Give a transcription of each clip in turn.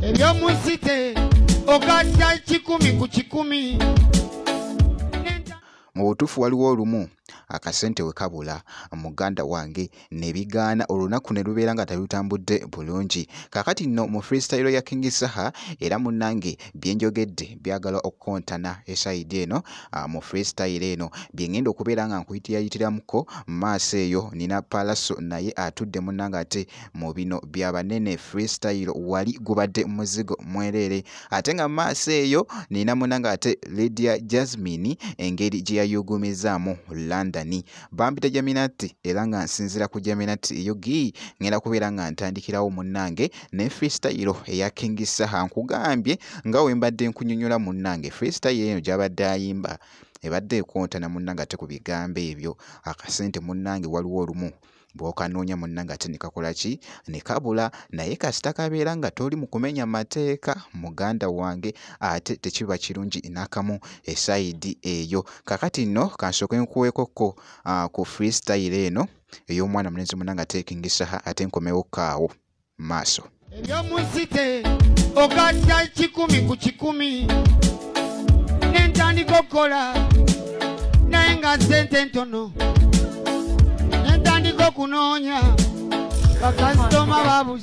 ebyomusite okasa kikumi ku kikumi mu butuufu waliwo olumu akasente we kabula muganda wange ne bigaana olunaku ne lubeera nga talutambudde bulungi kaakati nno mu freestyle ya king saha era munnange byenjogedde byagala okukontana esayidi eno ah, mu freestyle eno byengenda okubeera nga nkuyitiyayitirako maaso eyo nina palaso naye atudde munanga ate mu bino byabanene freestyle wali gubadde muzigo mwereere ate nga maaso eyo nina munanga ate lydia jasmine engeri gyeyayugumizaamu london bampita jaminati era nga nsinzira ku jaminati eyo gi ngenda kubeera nga ntandikirawo munnange ne freestyle eya king saha nkugambye nga wembadde nkunyonyola munnange freestyle eyo gyabadde ayimba ebadde ekontana munnange ate ku bigambo ebyo akasente munnange waliwo olumu bwokanoonya munnange ate nekakola ki nekabula naye kasita kabeera nga toli mu kumenya mateeka muganda wange ate tekiba kirungi nakamu esayidi eyo kakati nno kansooke nkuweekokko ah, ku freestyle eno ey'omwana mulenzi muna nga teekingisaha ate nkomewo kaawo maaso ebyomusite ogatta kikumi ku kikumi nentandika okukola naye nga sente ntono nentandika okunoonya bakasitoma babuzi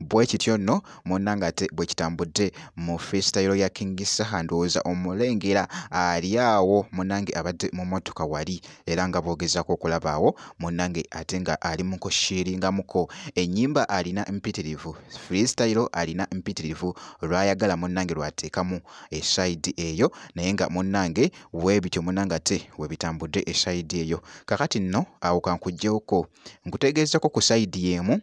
bwe kityo nno munnange ate bwe kitambudde mu freestyle ya king saha ndowooza omulengera ali awo munnange abadde mu mmotoka wali era nga boogezaako okulabaawo munnange ate nga ali mu kushiringamuko ennyimba alina mpitirivu freestyle alina mpitirivu lwayagala munnange lwateekamu esayidi eyo naye nga munnange weebityo munnange ate we bitambudde esayidi eyo kakati nno awo kankuggyewoko nkutegeezako ku sayidi y'emu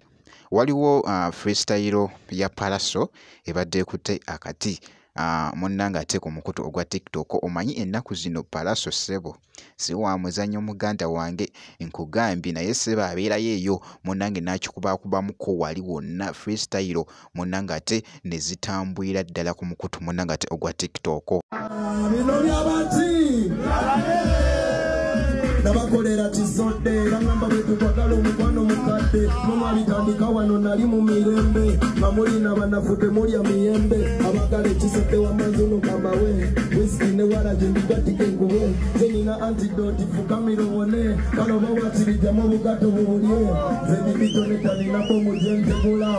waliwo uh, freestyle ya palaso ebadde ekutte akati uh, munnanga ate ku mukutu ogwa tiktok omanyi ennaku zino palaso sebo si wa muzannyo muganda wange nkugambye naye sebo abeerayo eyo munnange n'akikubakubamuko wali wonna freestyle munnange ate ne zitambulira ddala ku mukutu munnange ate ogwa tiktok bino byabati nabakolera kizodde bagamba bwetukwagala omukwano mukadde nomwabitandika wano nali mu mirembe nga mulina banafu temulya miyembe abagala ekisodde wamanzuno kamawe wiski ne waragi ndigatike enkuwe zenina antidoti fukamira owone kale oba wakirijamu obugato bubulye zenibitonetaninakomujentegula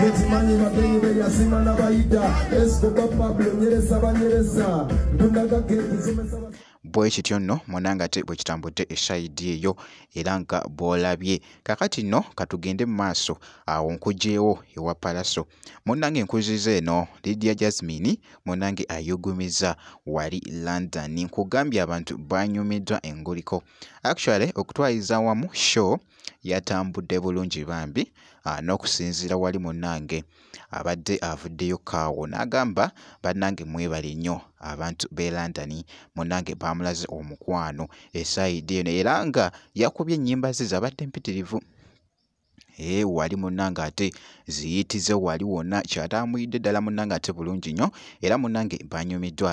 mukimanyi bagenyi beyazima nabayita esikoba pablo nyereza banyereza ndunagagekizimesa bwe kityo nno munanga ate bwe kitambudde eshayidi eyo era nga bw'olabye kakati nno katugende mu maaso awo nkugyewo ewa palaso munange nkuziza eno lidia jasmine munange ayugumiza wali london nkugambye abantu banyumiddwa enguliko actually okutwaliza wamu show yatambudde bulungi bambi ah, n'okusinziira wali munnange abadde avuddeyo kaawo n'agamba bannange mwebale nnyo abantu b'e London munnange baamulaze omukwano esayidi eno era nga yakubye ennyimba ze zabadde mpitirivu ee eh, wali munnange ate ziyitize wali wonna kyataamuyidde ddala munnange ate bulungi nnyo era munnange banyumiddwa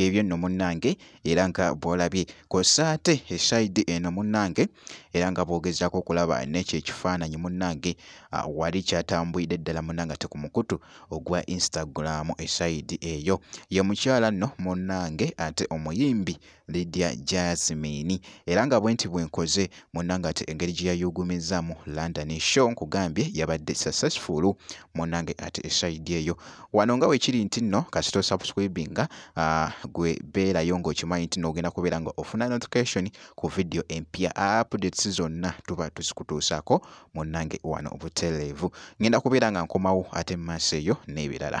byebyo nno munnange era nga bw'olabye kw'ossa ate esayidi eno munnange era nga bwogezaako okulaba nekyo ekifaananyi munnange ah, wali kyatambulidde ddala munnange ate ku mukutu ogwa instagram esayidi eyo ye mukyala nno munnange ate omuyimbi lydia jasmine era nga bwenti bwenkoze munnange ate engeri gye yayugumizzaamu london show nkugambye yabadde successful munnange ate esayidi eyo wano nga wekiri nti nno kasita osubscribinga ah, gwe beerayo ng'okimanyi nti noogenda kubeera nga ofuna notification ku vidiyo empya updates zonna tuba tuzikutuusaako munnange wano obutereevu ngenda kubeera nga nkomawo ate mu maaso eyo n'ebirala